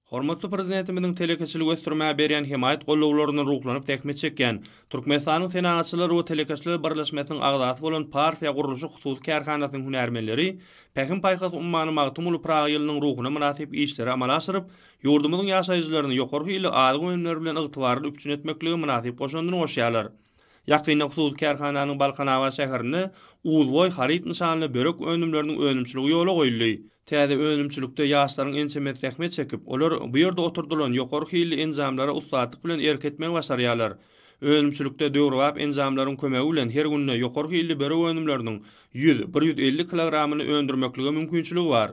Hormatly Prezidentimiziň telekeçiligi ösdürmäge berýän hemaýat gollawlaryna ruhlanyp zähmet çekýän, Türkmenistanyň Senagatçylar we telekeçiler birleşmesiniň agzasy bolan Parfiýa gurluşyk hususy kärhanasynyň hünärmenleri Pähim-paýhas ummany Magtymguly Pyragy ýylynyň ruhuna mynasyp işleri amala aşyryp, ýurdumyzyň ýaşaýjylaryny ýokary hilli azyk önümleri bilen ygtybarly üpjün etmeklige mynasyp goşandyny goşýarlar. Ýakynda hususy kärhananyň Balkanabat şäherinde Uzboý haryt nyşanly börek önümleriniň önümçiligi ýola goýuldy. Täze önümçilikde ýaşlaryň ençemesi zähmet çekip, olar bu ýerde oturdylan ýokary hilli enjamlara ussatlyk bilen erk etmegi başarýarlar. Önümçilikde döwrebap enjamlaryň kömegi bilen her günde ýokary hilli börek önümleriniň ýüz, bir ýüz elli kilogramyny öndürmeklige mümkinçiligi bar.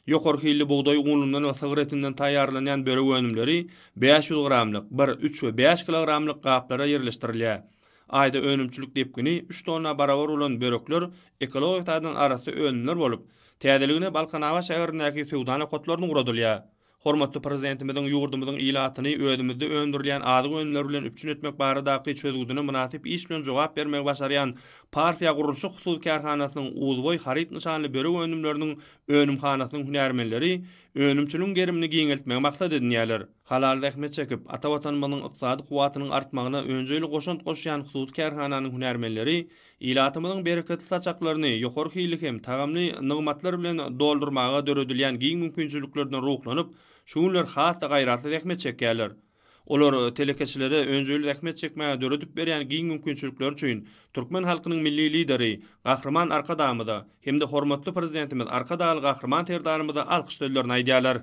Ýokary hilli bugdaý unundan we sygyr etinden taýýarlanýan börek önümleri bäş ýüz gramlyk, bir, üç we bäş kilogramlyk gaplara ýerleşdirilýär. Aýda önümçilik depgini üç tonna barabar bolan börekler ekologik taýdan arassa önümler bolup, täzeligine Balkanabat şäherindäki söwda nokatlarynda ugradylýar. Hormatly Prezidentimiziň ýurdumyzyň ilatyny özümizde öndürilýän azyk önümleri bilen üpjün etmek baradaky çözgüdine mynasyp iş bilen jogap bermegi başarýan Parfiýa gurluşyk hususy kärhanasynyň Uzboý haryt nyşanly börek önümleriniň önümhanasynyň hünärmenleri önümçiligiň gerimini giňeltmegi maksat edinýärler. Halal zähmet çekip, ata Watanymyzyň ykdysady kuwwatynyň artmagyna önjeýli goşant goşýan hususy kärhananyň hünärmenleri Ilatymyzyň bereketli saçaklaryny ýokary hilli hem tagamly nygmatlar bilen doldurmaga döredilýän giň mümkinçiliklerden ruhlanyp, şu günler has-da gaýratly zähmet çekýärler. Olar telekeçilere önjeýli zähmet çekmäge döredip berýän giň mümkinçilikleri üçin türkmen halkynyň Milli Lideri Gahryman Arkadagymyza hem-de hormatly Prezidentimiz Arkadagly Gahryman Serdarymyza alkyş sözlerini aýdýarlar.